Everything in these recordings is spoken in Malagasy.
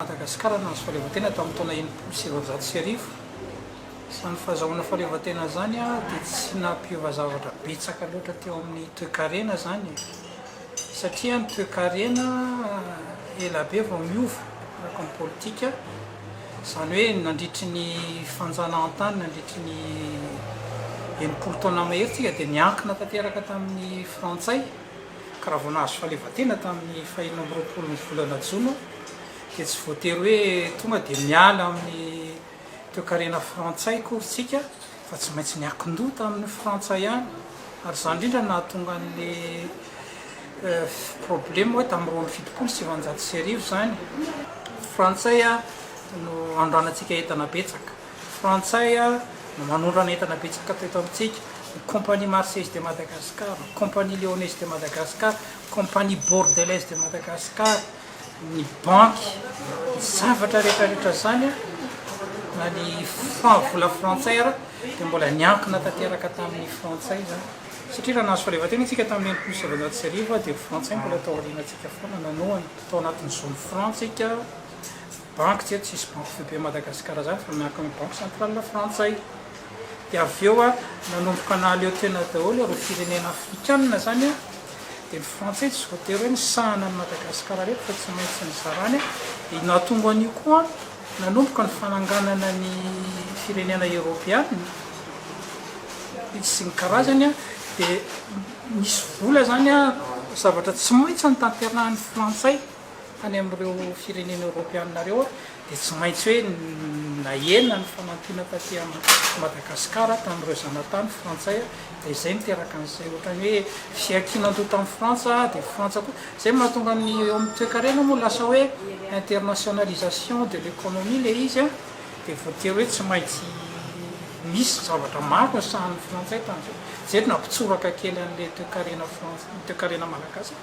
Madagasikara nahazo fahaleovantena tamin'ny taona enimpolo sy sivinjato sy arivo. Izany fahazahoana fahaleovantena izany dia tsy nampiova zavatra betsaka loatra teo amin'ny toekarena izany satria ny toekarena ela be vao niova araka ny politika, izany hoe nandritry ny fanjanahantany nandritry ny enimpolo taona mahery isika dia niankina tanteraka tamin'ny frantsay. Ka raha vao nahazo fahaleovantena tamin'ny fahenina amby roapolo ny volana jona dia tsy voatery hoe tonga dia miala amin'ny toekarena frantsay akory isika fa tsy maintsy niankin-doha tamin'ny frantsa ihany ary izany indrindra no nahatonga an'ilay problema hoe tamin'ny roa amby fitopolo sy sivanjato sy arivo izany frantsay no anondranatsika entana betsaka. Frantsay no manondrana entana betsaka teto amintsika, ny compagnie Marseillaise de Madagascar, ny compagnie Lyonnaise de Madagascar, ny compagnie Bordelaise de Madagascar, ny banky, ny zavatra rehetrarehetra izany na ny franc, vola frantsay ara dia mbola niankina tanteraka tamin'ny frantsay izany. Satria raha nahazo fahaleovantena isika tamin'ny enimpolo sy sivinjato sy arivo dia frantsay mbola tao aorianantsika foana nanohana. Tao anatin'ny zon'ny franc isika. banky tsy eto tsisy banky foibe Madagascar zany fa miankina amin'ny banky centrale frantsay dia avy eo a nanomboka nahaleo tena daholo ireo firenena afrikanina zany a dia ny frantsay tsy voatery hoe misahana an'i Madagascar reto fa tsy maintsy nizarany dia nahatonga an'io koa nanomboka ny fananganana ny firenena eropeanina sy ny karazany a dia misy vola zany a zavatra tsy maintsy ny tanterahan'ny frantsay any amin'ireo firenena eoropeanina ireo dia tsy maintsy hoe nahena ny fanampiana taty Madagasikara tamin'ireo zanatany frantsay dia izay niteraka an'izay ohatran'ny hoe fiankinan-doha tamin'ny frantsa dia frantsa koa izay mahatonga ny eo amin'ny toekarena moa lasa hoe internationalisation de l'économie ilay izy an dia voatery hoe tsy maintsy misy zavatra maro ny sahan'ny frantsay tamin'izay izay nampitsoraka kely an'ilay toekarena frantsay toekarena malagasy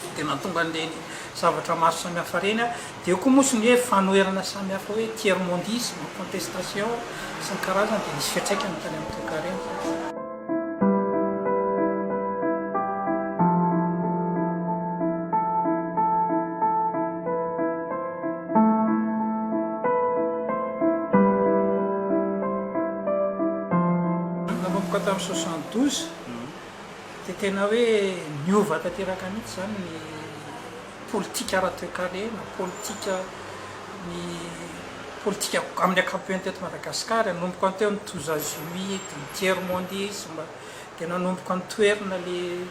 dia tena tonga an'ireny zavatra maro samihafa ireny aho. Dia eo koa moa sy ny hoe fanoherana samihafa hoe tiers mondisme, contestation sy ny karazany dia nisy fiantraikany tany amin'ny toekarena. Nanomboka tamin'ny soixante douze. dia tena hoe niova tanteraka mihitsy izany ny politika ara-toekarena, politika ny politika amin'ny ankapobeny teto Madagasikara, nanomboka ny teo ny Tozazumi, dia ny Tiers Mondisme, dia nanomboka nitoerina ilay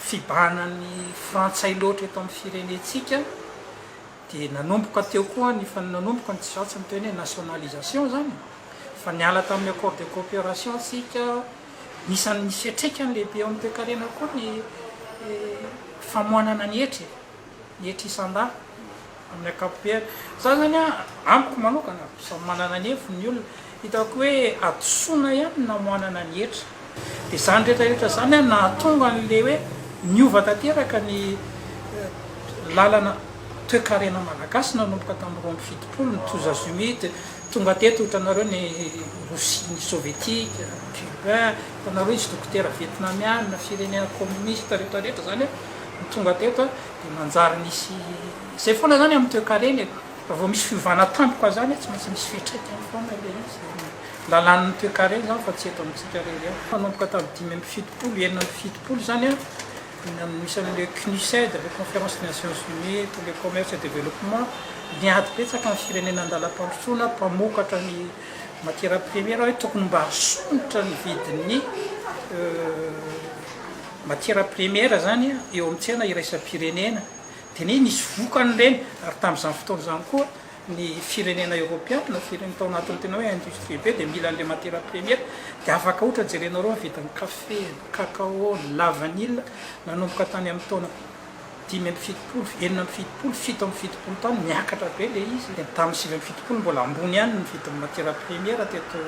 fibahanan'ny Frantsay loatra eto amin'ny firenentsika, dia nanomboka teo koa ny, efa nanomboka ny tsy ratsy ny teo ny hoe nationalisation izany e! Efa niala tamin'ny accord de coopération isika, Anisan'ny fiantraikany lehibe eo amin'ny toekarena koa ny famoanana ny hetra e, ny hetra isan-dahy amin'ny ankapobeny. Za zany a, amiko manokana, samy manana ny heviny ny olona, hitako hoe hadisoana ihany ny namoanana ny hetra. Dia izany rehetra rehetra izany a, nahatonga an'ilay hoe niova tanteraka ny lalana toekarena malagasy nanomboka tamin'ny roa amby fitopolo, ny Toza Zumide, Tonga teto hitanareo ny Rosia, ny Sovietika, Cuba, hitanareo nisy dokotera Vietnamiana, firenena kominista rehetra rehetra izany an, ny tonga teto an, dia manjary nisy, izay foana izany amin'ny toekarena e, raha vao misy fiovana tampoka izany an, tsy maintsy misy fiantraikany foana ilay izy, ny lalàn'ny toekarena izany fa tsy eto amintsika irery an. Nanomboka tamin'ny dimy amby fitopolo, enina amby fitopolo izany an, Eny amin'ny isan'ireo CNUSED, le Conférence des Nations Unies pour le Commerce et le Développement, niady betsaka ny firenena an-dalam-pandrosoana mpamokatra ny matières premières hoe tokony mba asonitra ny vidin'ny matières premières izany eo amin'ny tsena iraisam-pirenena. Dia anie nisy vokany ireny ary tamin'izany fotoana izany koa ny firenena eoropeana, firenena tao anatin'ny tena hoe industrie be dia mila an'ilay matière première, dia afaka ohatra jerenao ireo mividy ny kafe, ny cacao, ny la vanille, nanomboka tany amin'ny taona dimy amby fitopolo, enina amby fitopolo, fito amby fitopolo tany niakatra be ilay izy, dia tamin'ny sivy amby fitopolo mbola ambony ihany ny vidin'ny matière première teto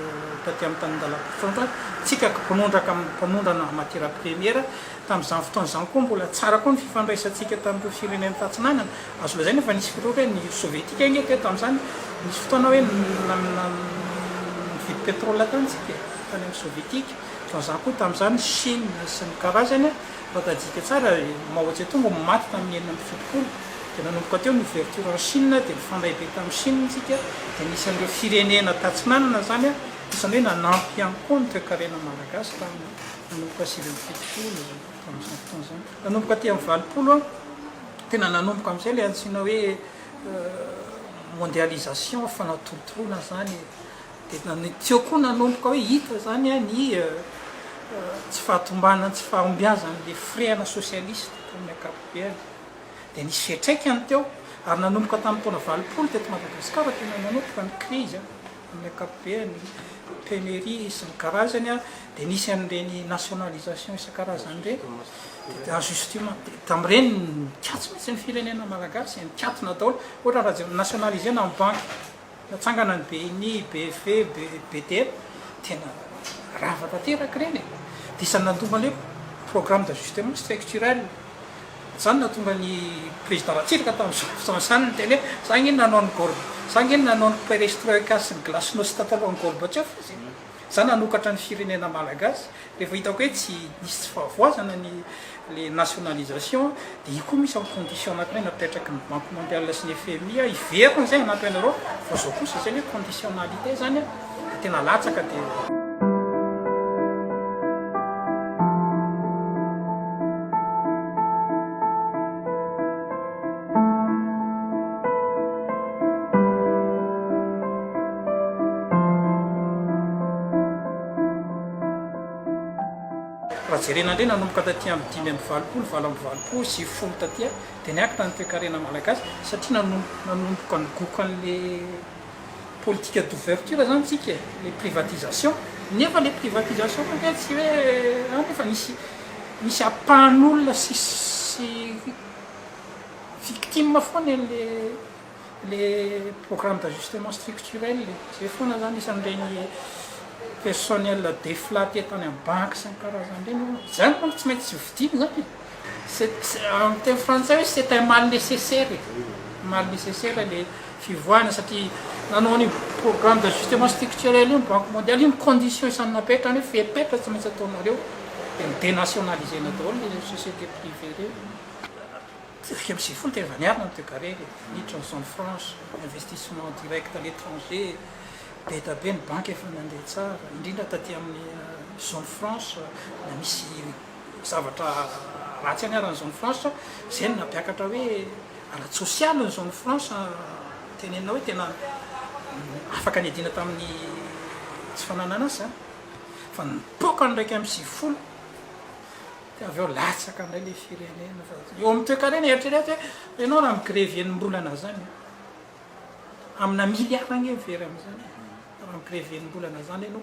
taty amin'ny tanindalam-pitondratsika, ka mpanondraka mpanondrana matière première. Tamin'izany fotoana izany koa, mbola tsara koa ny fifandraisantsika tamin'ireo firenena tatsinanana. Azo lazaina fa nisy fotoana hoe ny Sovietika ange teto tamin'izany, nisy fotoana hoe nividy pétrole tany isika, tany amin'ny Sovietika. Ohatran'izany koa tamin'izany ny Chine sy ny karazany, raha tadidintsika tsara, Mao Tse-tung no maty tamin'ny enina amby fitopolo, dia nanomboka teo ny ouverture en Chine, dia nifandray be tamin'i Chine isika, dia anisan'ireo firenena tatsinanana izany, anisan'ny hoe nanampy ihany koa ny toekarena malagasy tamin'io. Nanomboka sivy amby fitopolo tamin'izany fotoana izany, nanomboka aty amin'ny valopolo aho, tena nanomboka amin'izay ilay antsoina hoe mondialisation, fanatolotoloana izany e. Dia na- ny- tsy eo koa nanomboka hoe hita izany an, ny tsy fahatombanan'ny tsy fahombiazan'ilay firehana sosialista tamin'ny ankapobeny. Dia nisy fiantraikany teo, ary nanomboka tamin'ny taona valopolo teto Madagasikara tena nanomboka ny krizy an. Amin'ny ankapobeny, pionnerie isan-karazany dia nisy an'ireny nationalisation isan-karazany ireny, dia en justement, dia tamin'ireny nikatso mihitsy ny firenena malagasy, nikatona daholo, ohatra raha jerena, nationalisena ny banky, natsangana ny BNI, BEV, BDM, tena rava tanteraka ireny e! Dia isan'ny nandova an'io, programme d'ajustement structurel. Izany no nahatonga ny Prezida Ratsiraka tamin'izao fotoana izany niteny hoe, za ange nanao an'i Gor-, za ange nanao ny perestroika sy ny glasnost talohan'i Gorbachev izy e! Za nanokatra ny firenena Malagasy, rehefa hitako hoe tsy nisy tsy fahavoazana ny le nationalisation dia io koa misy en condition anankiray napetraky ny Banque Mondiale sy ny FMI hiverina izay hanampy anareo, fa izao kosa izay le conditionnalité izany a! dia tena latsaka dia. Raha jerena indray nanomboka taty amin'ny dimy amby valopolo, valo amby valopolo sy folo taty dia niakatra ny toekarena malagasy satria nanomboka nigoka an'ilay politique d'ouverture zany tsika e, le privatisation, nefa le privatisation ve tsy hoe an nefa misy misy apahan'olona sy sy victime foana e le le programme d'ajustement structurel e, zay foana zany isan'ireny personnel deflatte tany amin'ny banky sy ny karazany ireny, zany manko tsy maintsy hovidiana zany e. Amin'ny teny frantsay hoe c'est un mal nécessaire e, mal nécessaire le fivoahana satria nanao an'io programme d'ajustement structurel io ny banque mondiale, io ny condition isan'ny napetrany hoe fepetra tsy maintsy ataonareo dia ny denationaliser-na daholo ireo société privée ireo, sivy amby sivifolo dia efa niarina ny degaree e, niditra ny zone franche, investissement direct à l'étranger, be da be ny banky efa nandeha tsara, indrindra taty amin'ny zone franche, na misy. zavatra ratsy aniaran'ny zone franche izay no nampiakatra hoe ara-tsosialy ny zone franche tenenina hoe tena afaka niadiana tamin'ny tsy fananana asa izany fa nipoaka ny iraika amby sivifolo dia avy eo latsaka indray ilay firenena fa eo amin'ny toekarena eritrereto hoe ianao raha migrevy enim-bolana izany amina miliara agne ny very amin'izany raha migrevy enim-bolana izany ianao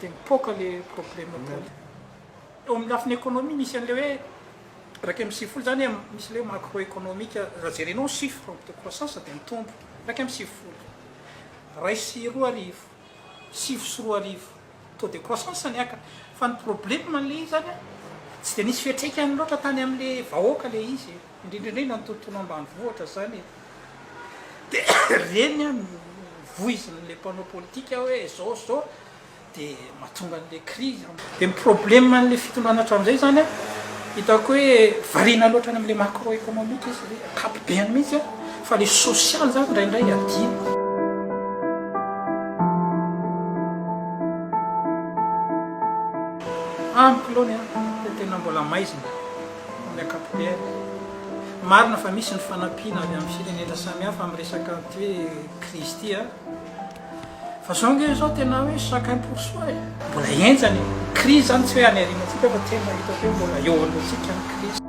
dia mipoaka le probleme tany. Eo amin'ny lafiny economie misy an'ilay hoe iraika amby sivifolo zany hoe misy ilay hoe macro economique raha jerenao ny chiffre de croissance dia mitombo iraika amby sivifolo iray sy roa arivo sivy sy roa arivo taux de croissance niaka fa ny probleme an'ilay izy zany tsy dia nisy fiatraikany loatra tany amin'ilay vahoaka ilay izy. indrindra indrindra ny tontolo ambanivohitra izany e! dia ireny an no voizin'ilay mpanao politika hoe izao sy izao dia mahatonga an'ilay crise an. Dia ny problème an'ilay fitondrana hatramin'izay izany an, hitako hoe variana loatra any amin'ilay macro économique izy hoe ankapobeany mihitsy an, fa ilay social izany indraindray adino. Amiko aloha ny ahy dia tena mbola maizina. amin'ny ankapobeny. Marina fa misy ny fanampiana avy amin'ny firenena samihafa amin'ny resaka an'ity hoe krizy ity a! Fa izao ange izao tena hoe chacun pour soi e! Mbola henjana io krizy izany, tsy hoe any aoriana antsika fa tena hitako hoe mbola eo alohantsika ny krizy.